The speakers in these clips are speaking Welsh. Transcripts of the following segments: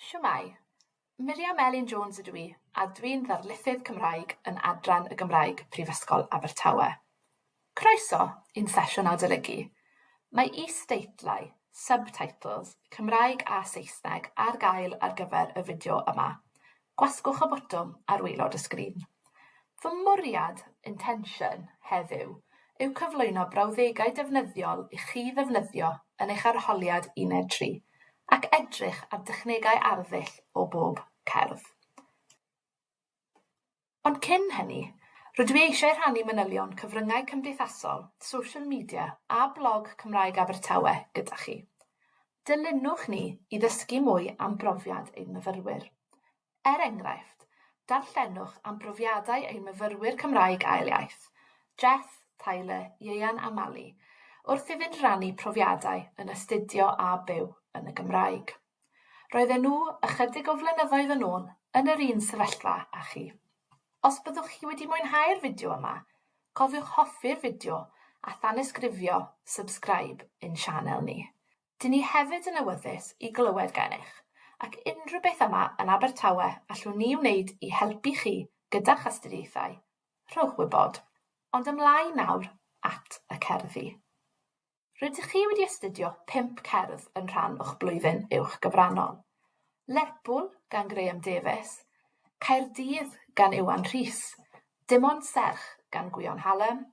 Shwmae! Miriam Elin Jones ydw i, a dwi'n Ddarlithydd Cymraeg yn Adran y Gymraeg, Prifysgol Abertawe. Croeso i'n sesiwn adolygu. Mae is-deitlau, subtitles, Cymraeg a Saesneg ar gael ar gyfer y fideo yma. Gwasgwch y botwm ar waelod y sgrin. Fy mwriad, intention, heddiw yw cyflwyno brawddegau defnyddiol i chi ddefnyddio yn eich arholiad Uned Tri, ac edrych ar dechnegau arddull o bob cerdd. Ond cyn hynny, rydw i eisiau rhannu manylion cyfryngau cymdeithasol, social media a blog Cymraeg Abertawe gyda chi. Dilynwch ni i ddysgu mwy am brofiad ein myfyrwyr. Er enghraifft, darllenwch am brofiadau ein myfyrwyr Cymraeg Ail Iaith, Jess, Tyler, Ieuan a Mali, wrth iddynt rannu profiadau yn astudio a byw yn y Gymraeg. Roedden nhw, ychydig o flynyddoedd yn ôl, yn yr un sefyllfa â chi. Os byddwch chi wedi mwynhau'r fideo yma, cofiwch hoffi'r fideo a thanysgrifio subscribe i'n sianel ni. Dyn ni hefyd yn awyddus i glywed gennych, ac unrhyw beth yma yn Abertawe allwn ni wneud i helpu chi gyda'ch astudiaethau, rhowch wybod. Ond ymlaen nawr at y cerddi. Rydych chi wedi astudio pump cerdd yn rhan o'ch blwyddyn uwch gyfrannol. Lerpwl gan Graham Davies, Caerdydd gan Iwan Rhys, Dim ond serch gan Gwion Hallam,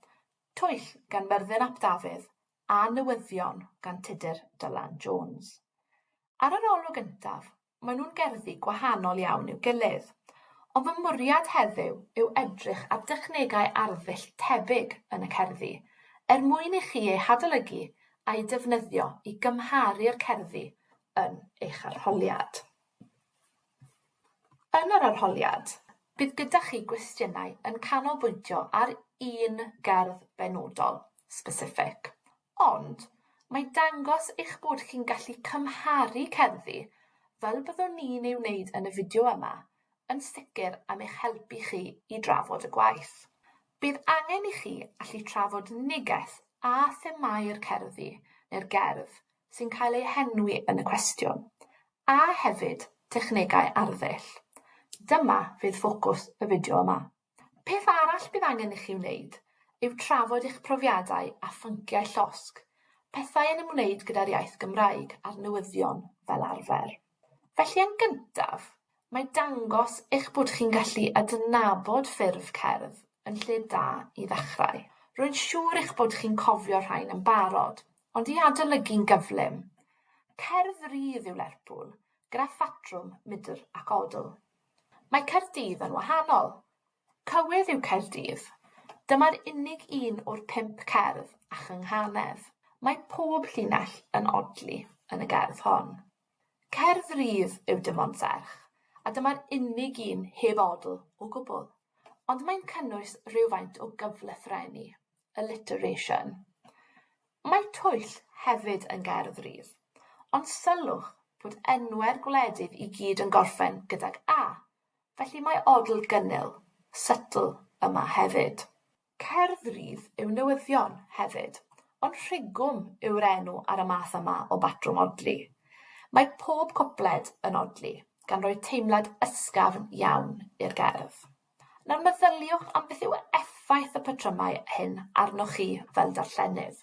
Twyll gan Myrddin ap Dafydd, a newyddion gan Tudur Dylan Jones. Ar yr olwg yntaf, mae nhw'n gerddi gwahanol iawn i'w gilydd, ond fy mwriad heddiw yw edrych ar dechnegau arddull tebyg yn y cerddi, er mwyn i chi eu hadolygu a'u defnyddio i gymharu'r cerddi yn eich arholiad. Yn yr arholiad, bydd gyda chi gwestiynau yn canolbwyntio ar un gerdd benodol, specific, ond mae dangos eich bod chi'n gallu cymharu cerddi, fel byddwn ni'n ei wneud yn y fideo yma, yn sicr am eich helpu chi i drafod y gwaith. Bydd angen i chi allu trafod neges a themâu'r cerddi neu'r gerdd sy'n cael eu henwi yn y cwestiwn, A hefyd, technegau arddull. Dyma fydd ffocws y fideo yma. Peth arall bydd angen i chi wneud yw trafod eich profiadau a phynciau llosg, pethau yn ymwneud gyda'r iaith Gymraeg a'r newyddion fel arfer. Felly yn gyntaf, mae dangos eich bod chi'n gallu adnabod ffurf cerdd yn lle da i ddechrau. Rwy'n siŵr eich bod chi'n cofio rhain yn barod, Ond i adolygu'n gyflym, cerdd rydd yw Lerpwl, gyda phatrwm mudr ac odl. Mae Caerdydd yn wahanol. Cywydd yw Caerdydd. Dyma'r unig un o'r pump cerdd a chynghanedd. Mae pob llinell yn odli yn y gerdd hon. Cerdd rydd yw Dim ond Serch, a dyma'r unig un heb odl o gwbl. Ond mae'n cynnwys rhywfaint o gyflythrennu. alliteration. Mae twyll hefyd yn gerdd rhydd, ond sylwch bod enwau'r gwledydd i gyd yn gorffen gydag a, felly mae odl gynnil, subtle, yma hefyd. Cerdd rhydd yw newyddion, hefyd, ond rhigwm yw'r enw ar y math yma o batrwm odli. Mae pob cwpled yn odli, gan roi teimlad ysgafn iawn i'r gerdd. Nawr meddyliwch am beth yw effaith y patrymau hyn arnoch chi fel darllenydd.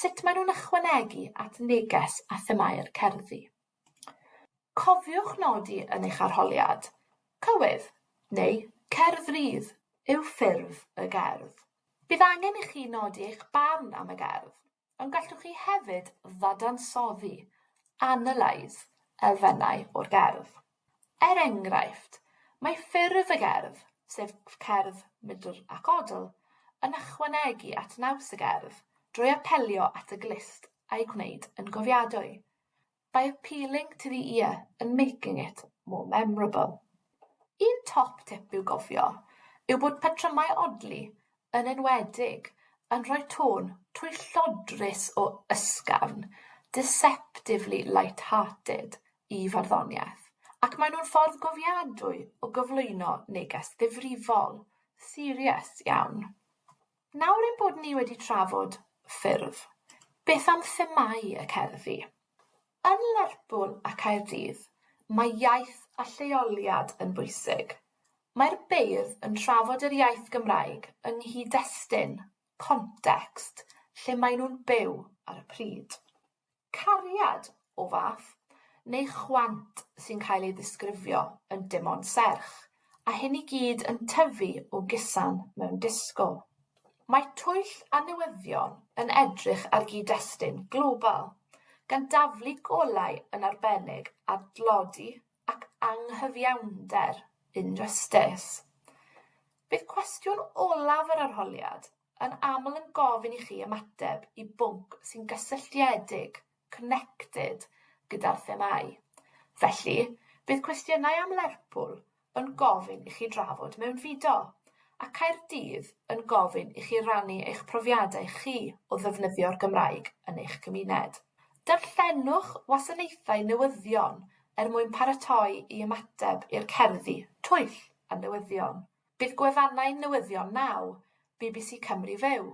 Sut maen nhw'n ychwanegu at neges a themâu'r cerddi? Cofiwch nodi yn eich arholiad, cywydd, neu cerdd rydd, yw ffurf y gerdd. Bydd angen i chi nodi eich barn am y gerdd. Ond gallwch chi hefyd ddadansoddi, analyse, elfennau o'r gerdd. Er enghraifft, mae ffurf y gerdd, sef cerdd Middle ac Odle, yn ychwanegu at naws y gerdd drwy apelio at y glust a'i gwneud yn gofiadwy. by appealing to the ear and making it more memorable. Un top tip i'w gofio yw bod patrymau odli, yn enwedig, yn rhoi tôn twyllodrus o ysgafn, deceptively light-hearted, i farddoniaeth, ac maen nhw'n ffordd gofiadwy o gyflwyno neges ddifrifol, serious, iawn. Nawr ein bod ni wedi trafod ffyrdd, beth am themâu y cerddi? Yn Lerpwl a Caerdydd, mae iaith a lleoliad yn bwysig. Mae'r beirdd yn trafod yr iaith Gymraeg yng nghyd-destun, context, lle maen nhw'n byw ar y pryd. cariad o fath, neu chwant sy'n cael ei ddisgrifio yn dim ond serch, a hyn i gyd yn tyfu o gusan mewn disgo. Mae twyll a newyddion yn edrych ar gyd-destun global, gan daflu golau yn arbennig ar dlodi ac anghyfiawnder injustis. Bydd cwestiwn olaf yr arholiad yn aml yn gofyn i chi ymateb i bwnc sy'n gysylltiedig, connected, gyda'r themâu. Felly, bydd cwestiynau am Lerpwl yn gofyn i chi drafod mewnfudo, a Caerdydd yn gofyn i chi rannu eich profiadau chi o ddefnyddio'r Gymraeg yn eich cymuned. Darllenwch wasanaethau newyddion er mwyn paratoi i ymateb i'r cerddi 'Twyll a Newyddion'. Bydd gwefannau newyddion Now, bbc Cymru Fyw,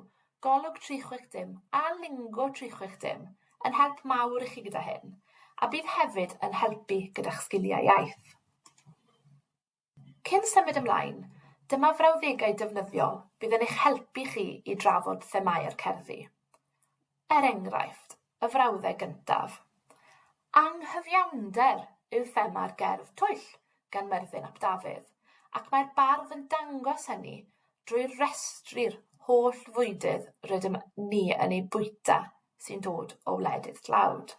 Golwg 360 a Lingo 360 yn help mawr i chi gyda hyn, a bydd hefyd yn helpu gyda'ch sgiliau iaith. Cyn symud ymlaen, dyma frawddegau defnyddiol fydd yn eich helpu chi i drafod themâu'r cerddi. Er enghraifft, y frawddeg gyntaf, 'Anghyfiawnder' yw thema'r gerdd 'Twyll' gan Myrddin ap Dafydd, ac mae'r bardd yn dangos hynny drwy restru'r holl fwydydd rydym ni yn eu bwyta sy'n dod o wledydd tlawd.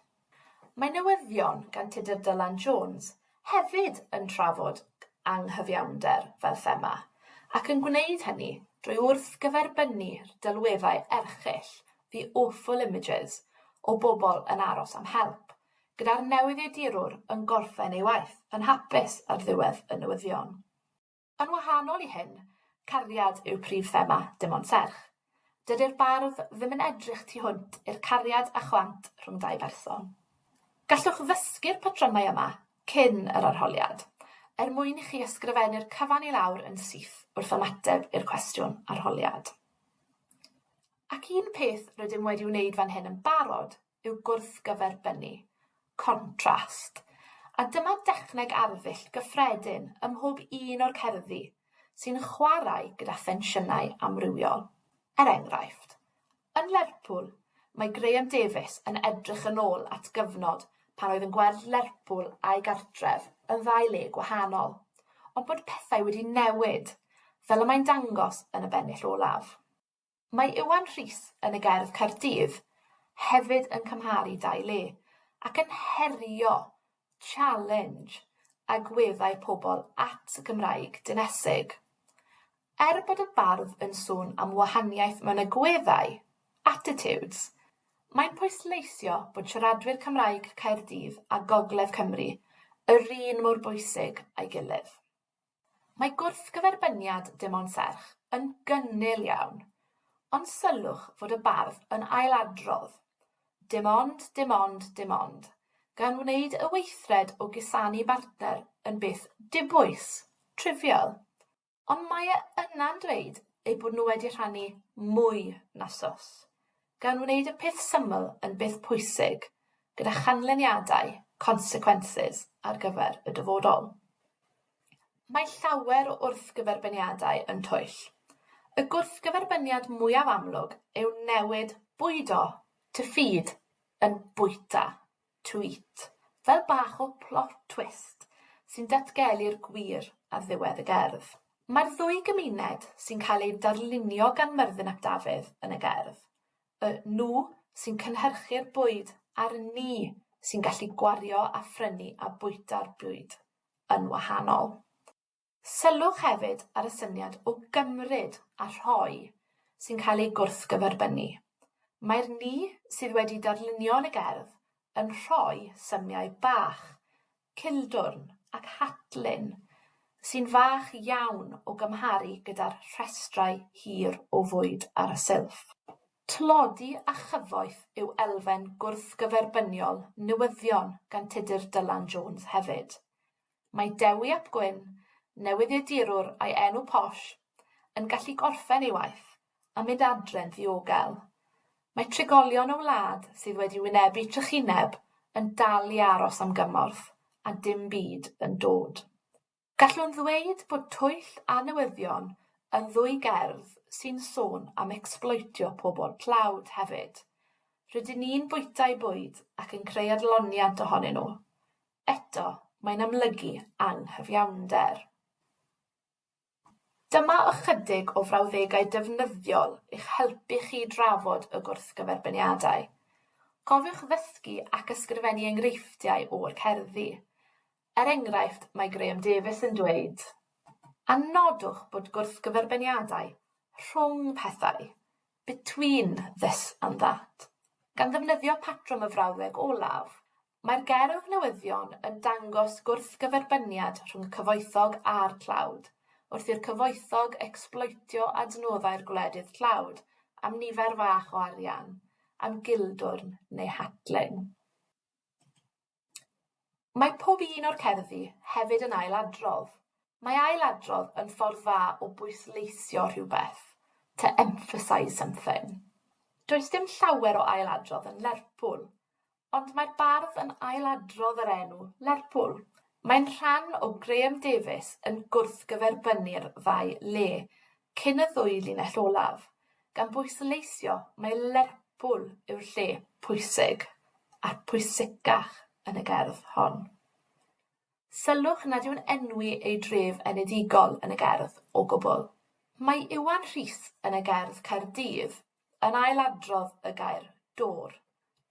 Mae newyddion gan Tudur Dylan Jones hefyd yn trafod anghyfiawnder fel thema, ac yn gwneud hynny drwy wrthgyferbynnu'r delweddau erchyll 'The Awful Images' o bobl yn aros am help, gyda'r newyddiadurwr yn gorffen ei waith yn hapus ar ddiwedd y newyddion. Yn wahanol i hyn, cariad yw prif thema Dim Ond Serch. Dydi'r bardd ddim yn edrych tu hwnt i'r cariad a chwant rhwng dau berson. Gallwch ddysgu'r patrymau yma cyn yr arholiad, er mwyn i chi ysgrifennu'r cyfan i lawr yn syth wrth ymateb i'r cwestiwn arholiad. Ac un peth rydym wedi wneud fan hyn yn barod yw gwrthgyferbynnu, contrast, a dyma dechneg arddull gyffredin ym mhob un o'r cerddi sy'n chwarae gyda thensiynau amrywiol. Er enghraifft, yn Lerpwl, mae Graham Davies yn edrych yn ôl at gyfnod pan oedd yn gweld Lerpwl a'i gartref yn ddau le gwahanol, ond bod pethau wedi newid, fel y mae'n dangos yn y bennill olaf. Mae Iwan Rhys yn y gerdd Caerdydd hefyd yn cymharu dau le, ac yn herio, challenge, agweddau pobl at y Gymraeg dinesig. Er bod y bardd yn sôn am wahaniaeth mewn agweddau, attitudes, mae'n pwysleisio bod siaradwyr Cymraeg Caerdydd a Gogledd Cymru yr un mor bwysig a'i gilydd. Mae gwrthgyferbyniad dim ond serch yn gynnil iawn, ond sylwch fod y bardd yn ailadrodd, Dim ond, dim ond, dim ond, gan wneud y weithred o gusanu bartner yn beth dibwys, trivial. Ond mae e yna'n dweud eu bod nhw wedi rhannu mwy na swss. Gan wneud y peth syml yn beth pwysig, gyda chanlyniadau, consequences, ar gyfer y dyfodol. Mae llawer o wrthgyferbyniadau yn twyll. Y gwrthgyferbyniad mwyaf amlwg yw newid bwydo, to feed, yn bwyta. Tweet, fel bach o plot twist sy'n datgelu'r gwir ar ddiwedd y gerdd. Mae'r ddwy gymuned sy'n cael eu darlunio gan Myrddin ap Dafydd yn y gerdd, y 'nhw' sy'n cynhyrchu'r bwyd a'r 'ni' sy'n gallu gwario a phrynu a bwyta'r bwyd, yn wahanol. Sylwch hefyd ar y syniad o gymryd a rhoi sy'n cael ei gwrthgyferbynnu. Mae'r ni sydd wedi darlunio yn y gerdd yn rhoi symiau bach, cildwrn ac hatlyn, sy'n fach iawn o gymharu gyda'r rhestrau hir o fwyd ar y silff. Tlodi a chyfoeth yw elfen gwrthgyferbyniol newyddion gan Tudur Dylan Jones hefyd. Mae Dewi ap Gwynn, newyddiadurwr â'i enw posh, yn gallu gorffen ei waith a mynd adre'n ddiogel. Mae trigolion y wlad sydd wedi wynebu trychineb yn dal i aros am gymorth, a dim byd yn dod. Gallwn ddweud bod twyll a newyddion yn ddwy gerdd sy'n sôn am ecsbloetio pobl tlawd hefyd. Rydyn ni'n bwyta'u bwyd ac yn creu adloniant ohonyn nhw. eto, mae'n amlygu anghyfiawnder. Dyma ychydig o frawddegau defnyddiol i'ch helpu chi i drafod y gwrthgyferbyniadau. Cofiwch ddysgu ac ysgrifennu enghreifftiau o'r cerddi. Er enghraifft, mae Graham Davies yn dweud, A nodwch bod gwrthgyferbyniadau rhwng pethau, between this and that, gan ddefnyddio patrwm y frawddeg olaf, Mae'r gerdd newyddion yn dangos gwrthgyferbyniad rhwng y cyfoethog a'r tlawd, wrth i'r cyfoethog ecsbloetio adnoddau'r gwledydd tlawd am nifer fach o arian, am gildwrn neu hatling. Mae pob un o'r cerddi hefyd yn ailadrodd. Mae ailadrodd yn ffordd dda o bwysleisio rhywbeth, to emphasise something. Does dim llawer o ailadrodd yn Lerpwl, Ond mae'r bardd yn ail-adrodd yr enw 'Lerpwl'. Mae'n rhan o Graham Davies yn gwrthgyferbynnu'r ddau le cyn y ddwy linell olaf, gan bwysleisio mai Lerpwl yw'r lle pwysig a'r pwysicach yn y gerdd hon. Sylwch nad yw'n enwi ei dref enedigol yn y gerdd o gwbl. Mae Iwan Rhys yn y gerdd Caerdydd yn ail-adrodd y gair 'dôr',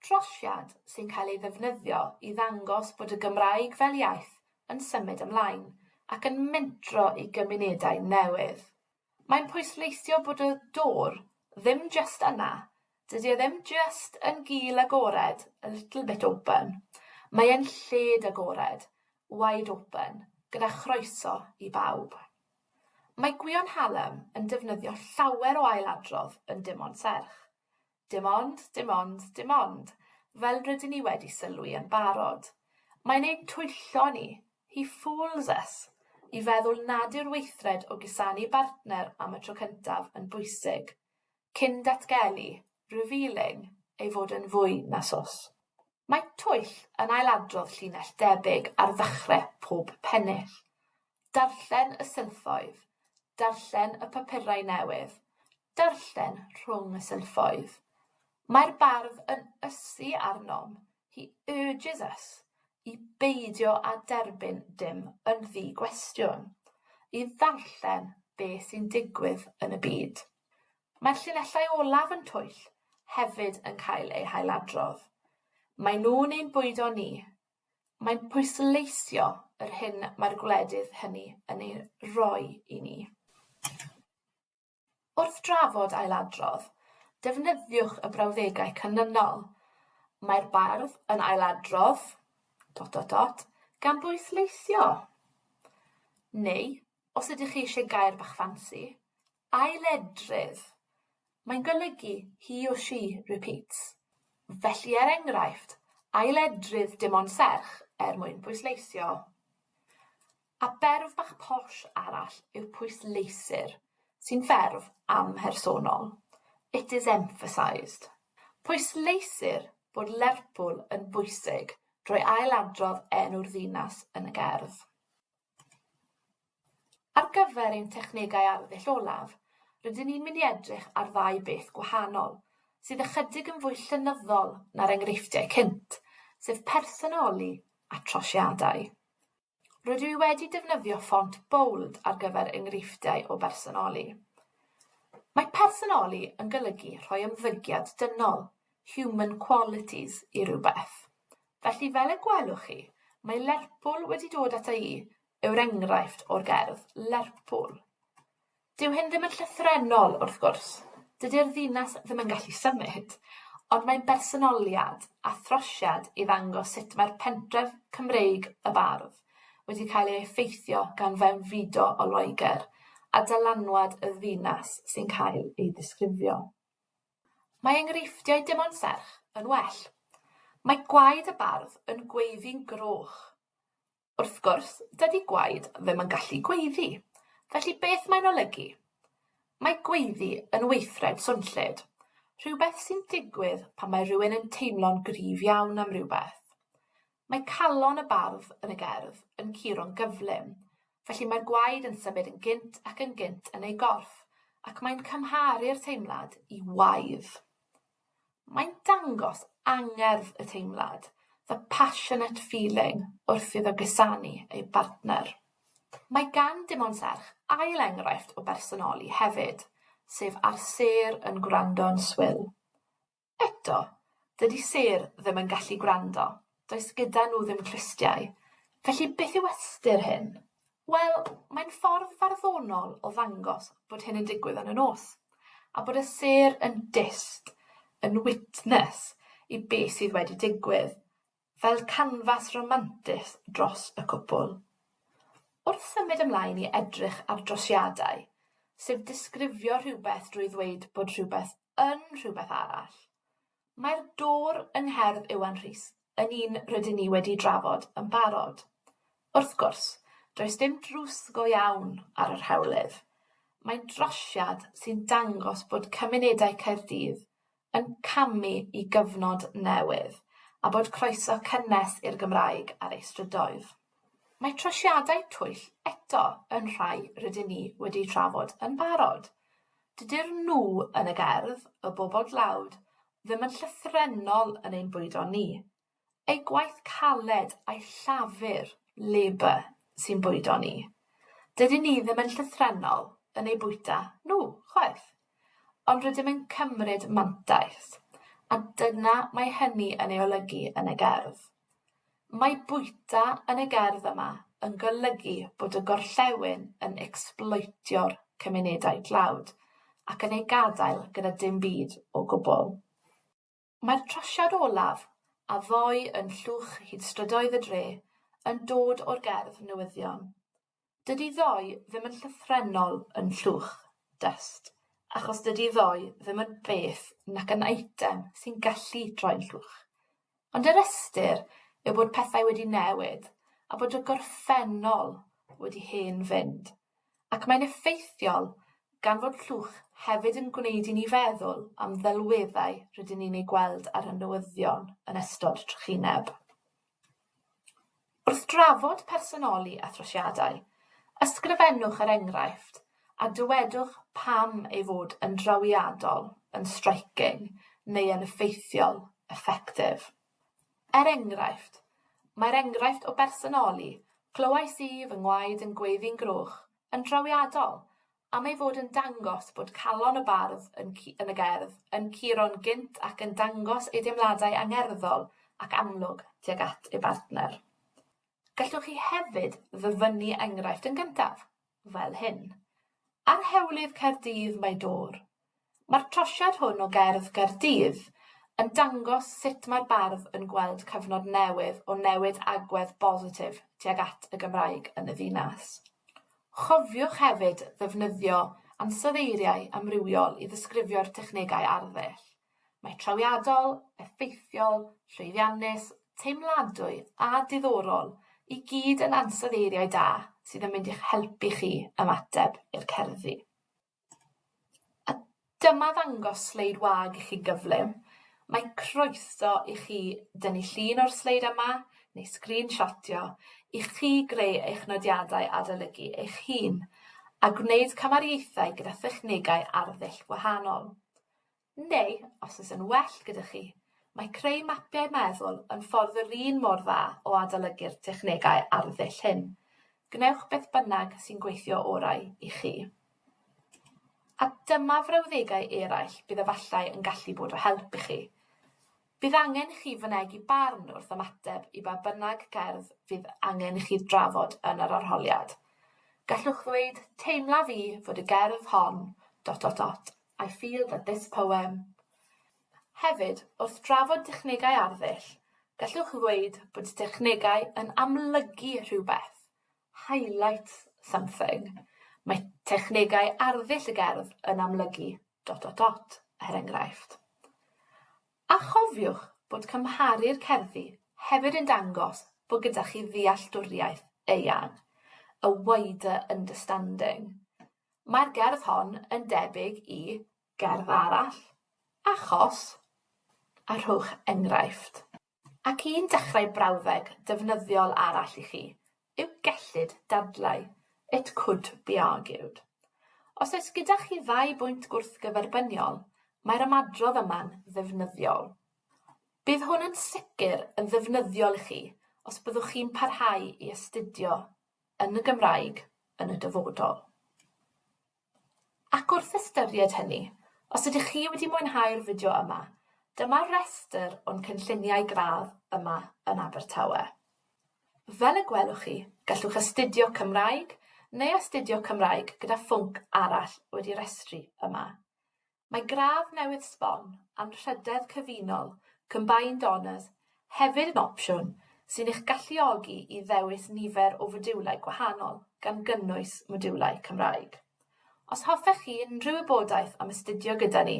trosiad sy'n cael ei ddefnyddio i ddangos bod y Gymraeg fel iaith yn symud ymlaen ac yn mentro i gymunedau newydd. Mae'n pwysleisio bod y 'door' ddim jyst yna, dydi e ddim jyst yn gul agored, a little bit open, mae e'n lled agored, wide open, gyda chroeso i bawb. Mae Gwion Hallam yn defnyddio llawer o ailadrodd yn dim ond serch. Dim ond, dim ond, dim ond, fel rydyn ni wedi sylwi yn barod, mae'n ein twyllo ni, he fools us, i feddwl nad yw'r weithred o gusanu bartner am y tro cyntaf yn bwysig, cyn datgelu, revealing, ei fod yn fwy na swsg. Mae twyll yn ailadrodd llinell debyg ar ddechre pob pennill. Darllen y silffoedd, darllen y papurau newydd, Darllen rhwng y sylffoedd. Mae'r bardd yn ysu arnom, he urges us, i beidio â derbyn dim yn ddi-gwestiwn, i ddarllen be sy'n digwydd yn y byd. Mae'r llinellau olaf yn twyll hefyd yn cael eu hailadrodd. Maen nhw'n ein bwydo ni. Mae'n pwysleisio yr hyn mae'r gwledydd hynny yn ei roi i ni. Wrth drafod ailadrodd, defnyddiwch y brawddegau canlynol, Mae'r bardd yn ailadrodd... dot dot dot gan bwysleisio. Neu, os ydych chi eisiau gair bach ffansi, ailedrydd. Mae'n golygu he or she repeats. Felly, er enghraifft, ailedrydd dim ond serch er mwyn pwysleisio. A berf bach posh arall yw'r pwysleisir, sy'n ferf amhersonol, it is emphasised. Pwysleisir bod Lerpwl yn bwysig drwy ailadrodd enw'r ddinas yn y gerdd. Ar gyfer ein technegau arddull olaf, rydyn ni'n mynd i edrych ar ddau beth gwahanol, sydd ychydig yn fwy llenyddol na'r enghreifftiau cynt, sef personoli a trosiadau. Rydw i wedi defnyddio ffont bold ar gyfer enghreifftiau o bersonoli. Mae personoli yn golygu rhoi ymddygiad dynol, human qualities, i rywbeth. Felly fel y gwelwch chi, mae Lerpwl wedi dod ata i yw'r enghraifft o'r gerdd Lerpwl. Dyw hyn ddim yn llythrennol, wrth gwrs, dydy'r ddinas ddim yn gallu symud, ond mae'n bersonoliad a throsiad i ddangos sut mae'r pentref Cymreig y bardd wedi cael ei effeithio gan fewnfudo o Loegr a dylanwad y ddinas sy'n cael ei ddisgrifio. Mae enghreifftiau dim ond serch yn well. Mae gwaed y bardd yn gweiddi'n groch. Wrth gwrs, dydy gwaed ddim yn gallu gweiddi, felly beth mae'n olygu? Mae gweiddi yn weithred swnllyd, rhywbeth sy'n digwydd pan mae rhywun yn teimlo'n gryf iawn am rywbeth. Mae calon y bardd yn y gerdd yn curo'n gyflym, felly mae'r gwaed yn symud yn gynt ac yn gynt yn ei gorff, ac mae'n cymharu'r teimlad i waidd. Mae'n dangos angerdd y teimlad, the passionate feeling, wrth iddo gusanu ei bartner. Mae gan Dimon Serch ail enghraifft o bersonoli hefyd, sef ar sêr yn gwrando'n swil. Eto, dydi sêr ddim yn gallu gwrando, Does gyda nhw ddim clustiau. Felly beth yw ystyr hyn? Wel, mae'n ffordd farddonol o ddangos bod hyn yn digwydd yn y nos, a bod y sêr yn dyst, yn witness i be sydd wedi digwydd, fel canfas romantus dros y cwpwl. Wrth symud ymlaen i edrych ar drosiadau, sef disgrifio rhywbeth drwy ddweud bod rhywbeth yn rhywbeth arall, Mae'r dwr yng ngherdd Iwan Rhys yn un rydyn ni wedi drafod yn barod. Wrth gwrs, does dim drws go iawn ar yr hewlydd. Mae'n drosiad sy'n dangos bod cymunedau Caerdydd yn camu i gyfnod newydd a bod croeso cynnes i'r Gymraeg ar ei strydoedd. Mae trosiadau twyll eto yn rhai rydyn ni wedi trafod yn barod. Dydyn nhw yn y gerdd, y bobl dlawd, ddim yn llythrennol yn ein bwydo ni. Ei gwaith caled a'i llafur, labour, sy'n bwydo ni. Dydyn ni ddim yn llythrennol yn eu bwyta nhw, chwaith. Ond rydym yn cymryd mantais, a dyna mae hynny yn ei olygu yn y gerdd. Mae bwyta yn y gerdd yma yn golygu bod y gorllewin yn ecsbloetio'r cymunedau tlawd ac yn eu gadael gyda dim byd o gwbl. Mae'r trosiad olaf, a ddoi yn llwch hyd strydoedd y dre, yn dod o'r gerdd newyddion. Dydi ddoe ddim yn llythrennol yn Llwch, dust, achos dydi ddoe ddim yn beth nac yn eitem sy'n gallu troi'n llwch. Ond yr ystyr yw bod pethau wedi newid a bod y gorffennol wedi hen fynd, ac mae'n effeithiol gan fod Llwch hefyd yn gwneud i ni feddwl am ddelweddau rydyn ni'n eu gweld ar y newyddion yn ystod trychineb. Wrth drafod personoli a throsiadau, ysgrifennwch yr enghraifft a dywedwch pam ei fod yn drawiadol, yn striking neu yn effeithiol, effective. Er enghraifft, Mae'r enghraifft o bersonoli 'Clywais i fy ngwaed yn gweiddi'n groch' yn drawiadol am ei fod yn dangos bod calon y bardd yn cu- yn y gerdd yn curo'n gynt ac yn dangos ei deimladau angerddol ac amlwg tuag at ei bartner. Gallwch chi hefyd ddyfynnu enghraifft yn gyntaf, fel hyn. Ar hewlydd Caerdydd mae dôr, Mae'r trosiad hwn o gerdd Caerdydd yn dangos sut mae'r bardd yn gweld cyfnod newydd o newid agwedd bositif tuag at y Gymraeg yn y ddinas. Chofiwch hefyd ddefnyddio ansoddeiriau amrywiol i ddisgrifio'r technegau arddull. Mae trawiadol, effeithiol, llwyddiannus, teimladwy a diddorol i gyd yn ansoddeiriau da sydd yn mynd i'ch helpu chi ymateb i'r cerddi. A dyma ddangos sleid wag i chi gyflym. Mae croeso i chi dynnu llun o'r sleid yma neu sgrinshotio i chi greu eich nodiadau adolygu eich hun a gwneud camariaethau gyda thechnegau arddull gwahanol. Neu, os oes yn well gyda chi, mae creu mapiau meddwl yn ffordd yr un mor dda o adolygu'r technegau ar y ddull hyn. Gwnewch beth bynnag sy'n gweithio orau i chi. A dyma frawddegau eraill bydd efallai yn gallu bod o help i chi. Bydd angen i chi fynegi barn wrth ymateb i ba bynnag gerdd fydd angen i chi drafod yn yr arholiad. Gallwch ddweud, Teimla fi fod y gerdd hon... dot dot dot I feel that this poem Hefyd, wrth drafod technegau arddull, gallwch ddweud bod technegau yn amlygu rhywbeth, highlight something. Mae technegau arddull y gerdd yn amlygu dot dot dot, er enghraifft. A chofiwch bod cymharu'r cerddi hefyd yn dangos bod gyda chi ddealltwriaeth eang, a wider understanding. Mae'r gerdd hon yn debyg i gerdd arall, achos, a rhowch enghraifft. Ac un dechrau brawddeg defnyddiol arall i chi yw gellid dadlau, it could be argued. Os oes gyda chi ddau bwynt gwrthgyferbyniol, mae'r ymadrodd yma'n ddefnyddiol. Bydd hwn yn sicr yn ddefnyddiol i chi os byddwch chi'n parhau i astudio yn y Gymraeg yn y dyfodol. Ac wrth ystyried hynny, os ydych chi wedi mwynhau'r fideo yma, dyma restr o'n cynlluniau gradd yma yn Abertawe. Fel y gwelwch chi, gallwch astudio Cymraeg neu astudio Cymraeg gyda phwnc arall wedi restru yma. Mae gradd newydd sbon, Anrhydedd Cyfunol, Combined Honours, hefyd yn opsiwn sy'n eich galluogi i ddewis nifer o fodiwlau gwahanol, gan gynnwys modiwlau Cymraeg. Os hoffech chi unrhyw wybodaeth am astudio gyda ni,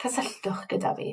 cysylltwch gyda fi.